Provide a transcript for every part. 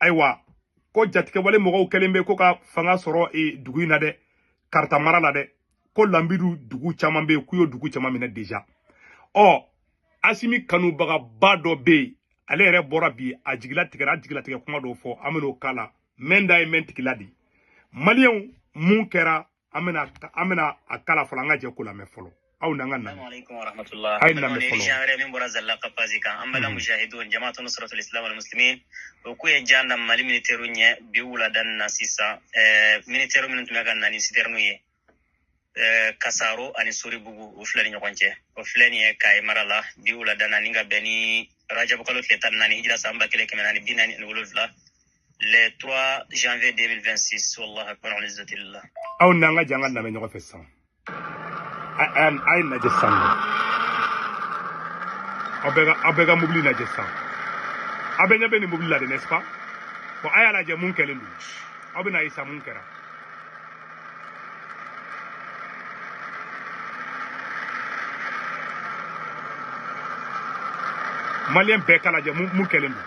ayiwa ko jatigɛwale mɔgɔw kɛlen bɛ ko ka fanga sɔrɔ e, dugu in na dɛ karata mara la dɛ ko lanbidu dugu caman bɛ yen k'u ye dugu caman minɛ deja ɔ asimi kanubagaba dɔ bɛ yen ale yɛrɛ bɔra bi a jigi latigɛra a jigilatigɛ kuma dɔw fɔ an bɛn'o kala mɛn da ye mɛn tigila de maliyɛnw mun kɛra an bɛna an bɛna a kala fɔlɔ an ka jɛ k'o lamɛn fɔlɔ aw n'an ka lamɛn a ye lamɛn fɔlɔ wɛrɛ min bɔra zalaka pazi kan an balima mujahidun jamaatu nusratul islam wal muslimin o k'u ye jan da mali militɛriw ɲɛ bi wulada na sisan militɛriw minnu tun bɛ ka na ni sitɛriniw ye kasaro ani soribugu u fila ni ɲɔgɔn cɛ o filɛ nin ye kaye mara la bi wulada na ni ka bɛn ni rajabukalo tile tan ni naani hijira san ba kelen kɛmɛ naani bi naani ani wolonwula le 3 janvier 2026 wallahu akbar wal izzatu lillah aw n'an ka jɛ an k'a lamɛn ɲɔgɔn fɛ sisan a a ye lajɛ sisan nɔ aw bɛɛ ka aw bɛɛ ka mobili lajɛ sisan aw bɛɛ ɲɛ bɛ nin mobili la de n'est-ce pas bon a y'a lajɛ mun kɛlen don aw bɛna ye sisan mun kɛra maliyɛn bɛɛ k'a lajɛ mun kɛlen don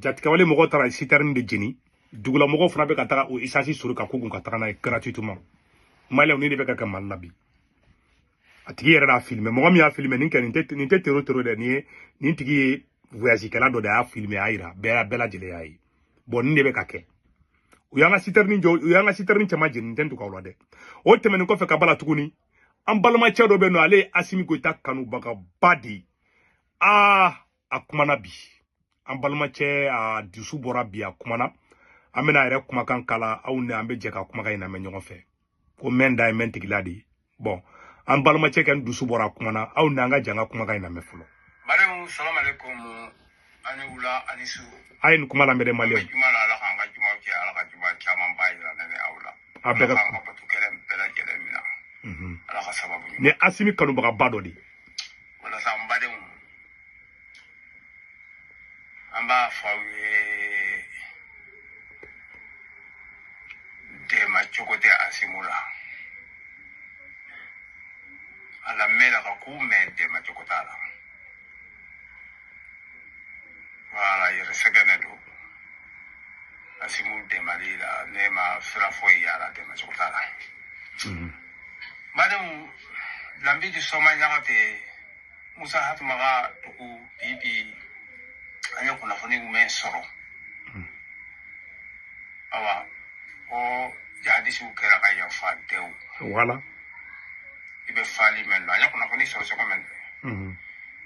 jatigɛwale mɔgɔw taara sitɛrini de jeni dugula mɔgɔw fana bɛ ka taga o esansi sori ka kogun ka taga n'a ye gratuitement maliyɛnw nin de bɛ ka kɛ mali la bi a tigi yɛrɛ d'a filime mɔgɔ min y'a filime nin kɛ nin tɛ nin tɛ tero tero dɛ nin ye nin tigi ye voyage kɛla dɔ de y'a filime a y'a yira bɛɛ y'a bɛɛ lajɛlen y'a ye bɔn nin de bɛ ka kɛ u y'an ka sitɛrini jɔ u y'an ka sitɛrini caman jeni nin tɛ dogo aw la dɛ o tɛmɛnen kɔfɛ ka b'a la tuguni an balimacɛ dɔ bɛ yen nɔ ale ye asimi goyita kanubagaba de ye aa a kumana bi an balimacɛ a dusu bɔra bi a kumana an bɛna a yɛrɛ kumakan kala aw ni an bɛ jɛ ka kumakan in lamɛn ɲɔgɔn fɛ ko mɛn da ye mɛn tigila de ye bɔn an balimacɛ kɔni dusu bɔra a kumana aw ni an ka jɛ an ka kumakan in lamɛn fɔlɔ maliyɛnw salamalekun a ni wula a ni su a ye nin kuma lamɛn dɛ maliyɛnw juma la ala k'an ka jumaw kɛ ala ka juma camanba yira ne ni aw la a bɛɛ ka bato kɛlen bɛɛ lajɛlen minɛ ala ka sababu ni asimi kanubagaba dɔ de walasa n badenw an b'a fɔ aw ye dɛmɛ cogo tɛ asimi la ala mɛn la ka ko mɛn dɛmɛ cogo t'a la voilà yɛrɛ sɛgɛnnen don asimu dɛmɛli la ne ma sira foyi y'a la dɛmɛ cogo t'a la badenw lambidu sɔma ɲagatɛ musa hatuma ka dugu bi bi an ye kunnafoni jumɛn sɔrɔ awa ko jihadisiw kɛra ka yafa dɛw wala i bɛ faali mɛn na an ye kunnafoni sɔrɔ cogo min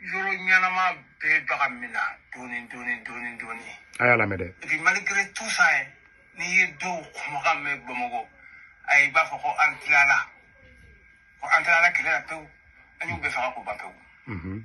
yɔrɔ ɲɛnama bɛɛ bɛ ka mina dɔɔni dɔɔni dɔɔni dɔɔni. a y'a lamɛn dɛ. et puis malgré tout ça ye n'i ye dɔw kumakan mɛn bamakɔ ayi i b'a fɔ ko an tilala ko an tilala kɛlɛ la pewu an y'u bɛɛ faga k'u ban pewu.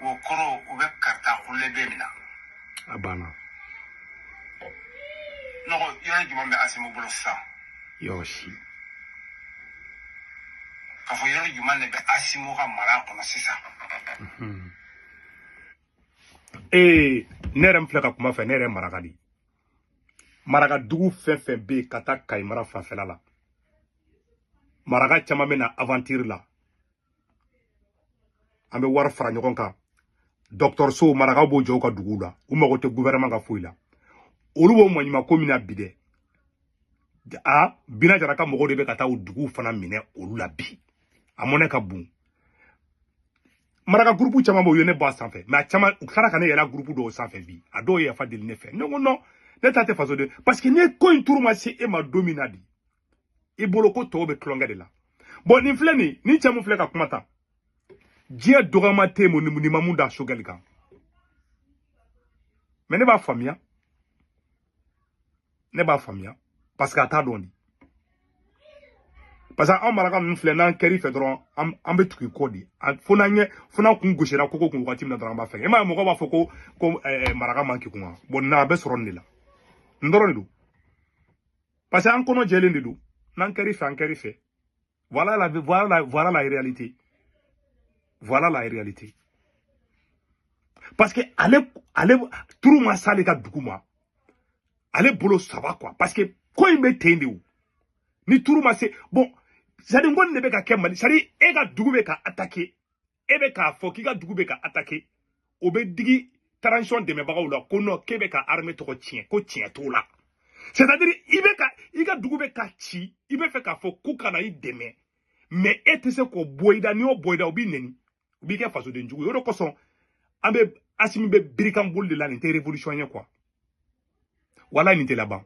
o kɔrɔ u bɛ karita kulen bɛɛ mina a banna nɔgɔ yɔrɔ jumɛn bɛ asimu bolo sisan yɔrɔ si k'a fɔ yɔrɔ jumɛn de bɛ asimu ka mara kɔnɔ sisan ee ne yɛrɛ min filɛ ka kuma fɛ ne yɛrɛ ye maraka de ye maraka dugu fɛn fɛn bɛ yen ka taa kayi mara fanfɛla la maraka caman bɛ na aventure la an bɛ wari fara ɲɔgɔn kan dɔgɔtɔrɔsow marakaw b'o jɔ u ka duguw la u mago tɛ guvɛrɛman ka foyi la olu b'o maɲumanko min na bi dɛ a bina jara ka mɔgɔw de bɛ ka taa u duguw fana minɛ olu la bi a mɔnɛ ka bon maraka gurupu caman bɛ yen ne b'a sanfɛ mais a caman u tilara ka ne yɛlɛ gurupu dɔw sanfɛ bi a dɔw ye yafa deli ne fɛ ne ko non ne ta tɛ faso de parce que ni ko in turu ma se e ma don min na de i bolo ko tɔw bɛ tulonkɛ de la bon nin filɛ nin ni cɛ mun filɛ ka kuma tan diɲɛ dɔgɔma tɛ yen mun nin ma mun da sogɛli kan mais ne b'a faamuya ne b'a faamuya parce que a t'a dɔn de parce que anw maraka ninnu filɛ n'an kɛr'i fɛ dɔrɔn an bɛ tugu i kɔ de fo n'an ɲɛ fo n'an kun gosira koko kun wagati min na dɔrɔn an b'a fɛ e m'a ye mɔgɔw b'a fɔ ko ko maraka man kegun wa bon a bɛ sɔrɔ nin de la nin dɔrɔn de don parce que an kɔnɔ jɛlen de don n'an kɛr'i fɛ an kɛr'i fɛ voilà la voilà la voilà la réalité voilà la réalité parce que ale ale turu ma s'ale ka dugu ma ale bolo ça va quoi parce que ko in bɛ ten de o n'i turu ma se bon c'est à dire n ko nin de bɛ ka kɛ mali c'est à dire e ka dugu bɛ ka attaquer e bɛ k'a fɔ k'i ka dugu bɛ ka attaquer o bɛ digi transition dɛmɛbagaw la ko non k'e bɛ ka armée tɔgɔ tiɲɛ ko tiɲɛ t'o la c'est à dire i bɛ ka i ka dugu bɛ ka ci i bɛ fɛ k'a fɔ k'u kana i dɛmɛ mais e tɛ se k'o bɔ i da n'i y'o bɔ i da o b'i nɛni o b'i kɛ fasoden jugu ye o de kosɔn an bɛ asimi bɛ birikan boli de la nin tɛ révolution ye quoi walayi nin tɛ laban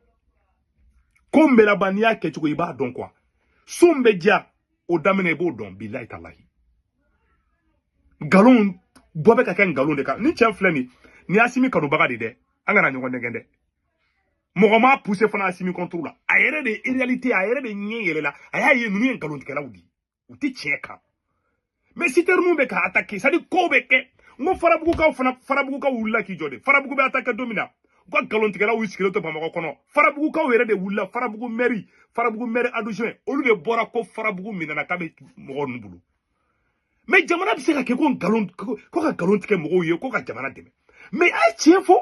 ko n bɛ laban n'i y'a kɛcogo i b'a dɔn quoi so n bɛ diya o daminɛ i b'o dɔn bilayi talahi nkalonw bɔ bɛ ka kɛ nkalon de kan nin cɛ filɛ nin nin ye asimi kanubaga de dɛ an kana ɲɔgɔn nɛgɛn dɛ mɔgɔ m'a puse fana asimi contre la a yɛrɛ de ye réalité a yɛrɛ de ɲɛ yɛlɛla a y'a ye ninnu ye nkalontigɛlaw de ye u tɛ tiɲɛ kan mɛ sitɛri mun bɛ ka atake sadi kow bɛ kɛ n ko farabugukaw fana farabugukaw wulila k'i jɔ de farabugu bɛ atake don min na u ka nkalontigɛlaw y'u sigilen to bamakɔ kɔnɔ farabugukaw yɛrɛ de wulila farabugu mɛri farabugu mɛri adjoint olu de bɔra ko farabugu minɛna k'a bɛ mɔgɔ ninnu bolo mɛ jamana bɛ se ka kɛ ko nkalon ko ka nkalon tigɛ mɔgɔw ye ko ka jamana dɛmɛ mɛ a ye tiɲɛ fɔ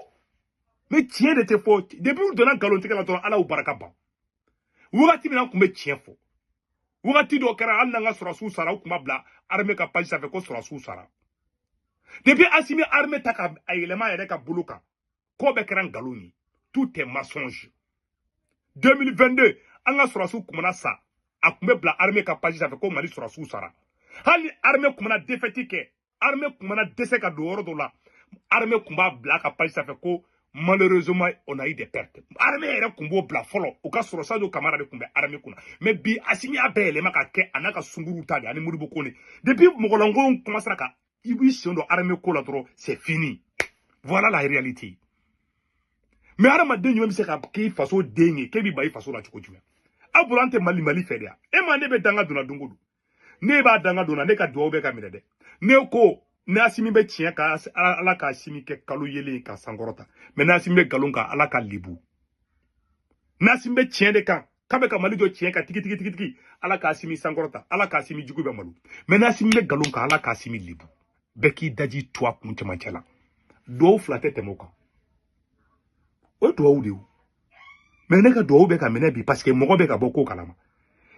mɛ tiɲɛ de tɛ fɔ depi u donna nkalontigɛ la dɔrɔn ala y'u barika ban wagati min an tun bɛ tiɲɛ fɔ wagati dɔ kɛra hali n'an ka sɔrɔsiw sara u tun b'a bila arme ka page sanfɛ ko sɔrɔsiw sara depuis asimi arme ta k'a yɛlɛma a yɛrɛ ka bolo kan ko bɛɛ kɛra nkalon ye tout est mensonge 2022 an ka sɔrɔsiw tun mana sa a tun bɛ bila arme ka page sanfɛ ko mali sɔrɔsiw sara hali arme tun mana defɛti kɛ armée tun mana dɛsɛ ka don yɔrɔ dɔ la armée tun b'a bila a ka page sanfɛ ko malheureusement on a eu des pertes armée yɛrɛ tun b'o bila fɔlɔ o ka sɔrɔ sadio kamara de tun bɛ armée kunna mais bi asimi y'a bɛɛ yɛlɛma ka kɛ a n'a ka sunguruw ta di ani modibo kone depuis mɔgɔlankolonw commencera ka i b'i sen don armée ko la dɔrɔn c'est fini voilà la réalité mais hadamaden jumɛn bɛ se ka kɛ faso den ye k'e b'i ban i faso la cogo jumɛn aw bolo an tɛ mali mali fɛ de yan e ma ne bɛ danga donna don o don ne b'a danga donna ne ka dugawu bɛ ka minɛ dɛ ne ko n'asimi bɛ tiɲɛ kan ala k'asimi kɛ kalo yeelen k'a sankɔrɔta mɛ n'asimi bɛ nkalon kan ala k'a lebu n'asimi bɛ tiɲɛ de kan k'a bɛ ka mali jɔ tiɲɛ kan tigitigitigitigitigi ala k'asimi sankɔrɔta ala k'asimi jugu bɛɛ malo mɛ n'asimi bɛ nkalon kan ala k'asimi lebu bɛɛ k'i daji tu a kun cɛmancɛ la duwawu fila tɛ tɛmɛ o kan o ye duwawu de ye mɛ ne ka dugawu bɛ ka minɛ bi paseke mɔgɔ bɛ ka bɔ ko kalama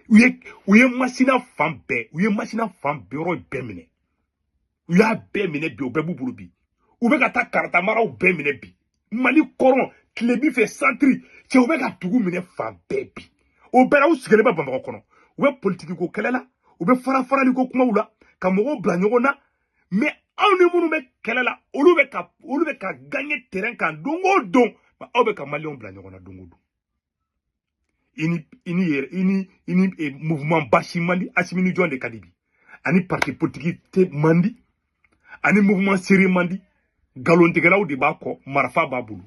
u ye u ye masina fan bɛɛ u ye masina fan bɛɛ yɔrɔ bɛɛ minɛ u y'a bɛɛ minɛ bi o bɛɛ b'u bolo bi u bɛ ka taa kaarata maraw bɛɛ minɛ bi mali kɔrɔn tilebin fɛ santiri cɛ u bɛ ka dugu minɛ fan bɛɛ bi o bɛɛ la u sigilen bɛ bamakɔ kɔnɔ u bɛ politiki ko kɛlɛ la u bɛ farafarali ko kumaw la ka mɔgɔw bila ɲɔgɔn na mais aw ni minnu bɛ kɛlɛ la olu bɛ ka olu bɛ ka gagner terrain kan don o don aw bɛ ka maliyɛnw bila ɲɔgɔn na don o don i ni i ni yɛrɛ i ni i ni eh, mouvement basi man di asimi ni jɔn de ka di bi a ni parti politique tɛ man di a ni mouvement sere man di nkalontigɛlaw de b'a kɔ marifa b'a bolo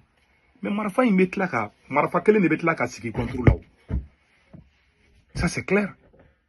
mais marifa in bɛ tila ka marifa kelen de bɛ tila ka sigi contre la o ça c'est clair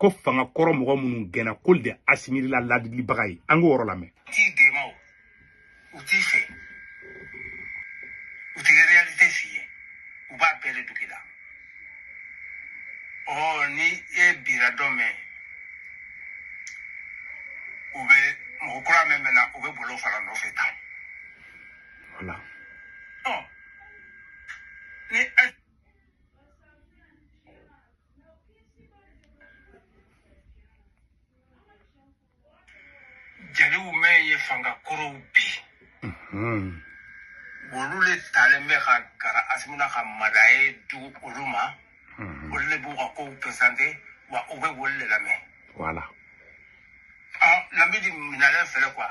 ko fanga kɔrɔ mɔgɔ minnu gɛnna k'olu de asimi la ladilibaga ye an k'o yɔrɔ lamɛn t'i dɛmɛ o u t'i fɛ u tɛ réalité f'i ye u b'a bɛɛ de dogo i la ɔ ni e bira don min u bɛ mɔgɔ kura min bɛ na u bɛ bol'o fana nɔfɛ tan voilà. ɔ ni jeliw min ye fanga kɔrɔw bi olu le talen bɛ ka gɛrɛ asimi na ka médaille di olu ma olu le b'u ka kow présenter wa u bɛ olu le lamɛn voilà lamidi minalen fɛlɛ quoi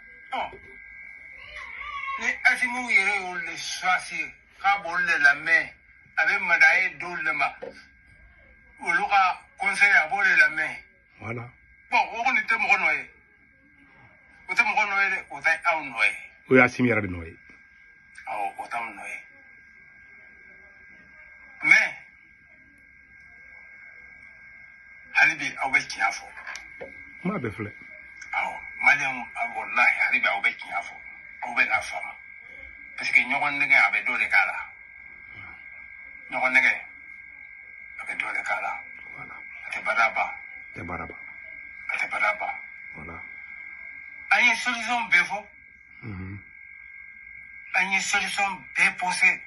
ni asimi yɛrɛ y'olu de choisir k'a b'olu de lamɛn a bɛ médaille d'olu de ma olu ka conseil a b'o de lamɛn voilà bon o kɔni tɛ mɔgɔ nɔ ye o tɛ mɔgɔ nɔ ye dɛ o tɛ aw nɔ ye o ye asimi yɛrɛ de nɔ ye awɔ o t'aw nɔ ye mais hali bi aw bɛ tiɲɛ fɔ kuma bɛɛ filɛ awɔ maliyɛn walahi hali bi aw bɛ tiɲɛ fɔ aw bɛ n'a faamu parce que ɲɔgɔn nɛgɛ a bɛ dɔ de k'a la ɲɔgɔn nɛgɛ a bɛ dɔ de k'a la voilà a tɛ bada ban tɛ baara ban a tɛ bada ban voilà an ye solution bɛɛ fɔ an ye solution bɛɛ posé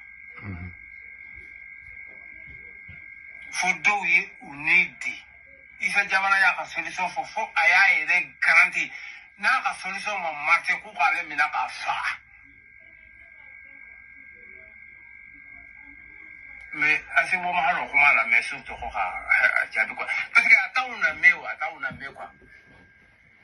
fo dɔw ye u ni di isa jawara y'a ka solution fɔ fo a y'a yɛrɛ garanti n'a ka solution ma marché k'u k'ale minɛ k'a faga mais asimi ma hali o kuma lamɛn surtout ko ka a jaabi quoi parce que a t'anw lamɛn o a t'anw lamɛn quoi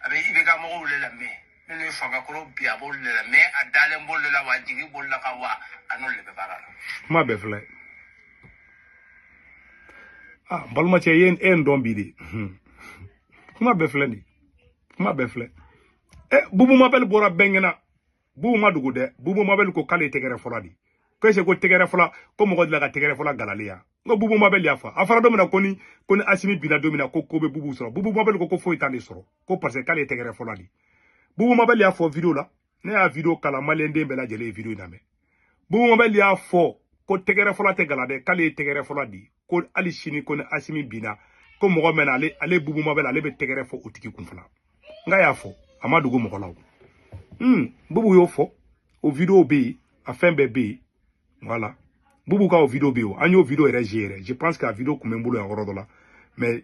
a bɛ ibk mɔgɔw le lamɛn minnu ye fanga kɔrɔ bi a b'olu de lamɛn a dalen b'olu de la wa a jigi b'olu le kan wa a n'olu de bɛ baara la kuma bɛɛ filɛ a n balimacɛ e ye n dɔn bi de kuma bɛɛ filɛ nin kuma bɛɛ filɛ ɛ bubu mabɛli bɔra bɛɛ ɲɛna bubu ma dogo dɛ bubu mabɛli ko k'ale ye tɛgɛrɛ fɔla de ko est-ce que tɛgɛrɛ fɔla ko mɔgɔ delila ka tɛgɛrɛ fɔla galalen ye wa n ko bubu mabɛli y'a fɔ a fɔra don min na ko ni ko ni asimi binna don min na ko ko bɛ bubu sɔrɔ bubu mabɛli ko ko foyi t'ale sɔrɔ ko parce que k'ale tɛgɛrɛ fɔla de bubu mabɛli y'a fɔ video la ne y'a video k'a la maliyɛn den bɛɛ lajɛlen ye video in lamɛn bubu mabɛli y'a fɔ ko tɛgɛrɛ fɔla tɛ gala dɛ k'ale ye tɛgɛrɛ fɔla de ko hali sini ko ni asimi binna ko mɔgɔ min na ale ale bubu mabɛli ale bɛ tɛgɛrɛ fɔ o tigi kun fana n k'a y'a fɔ a ma dogo mɔgɔ la o hmm bubu y'o fɔ o video bɛ yen a fɛn bɛɛ bɛ yen voilà bubu ka o video bɛ yen o an y'o video yɛrɛ ye yɛrɛ je pense que a video tun bɛ n bolo yan yɔrɔ dɔ la mais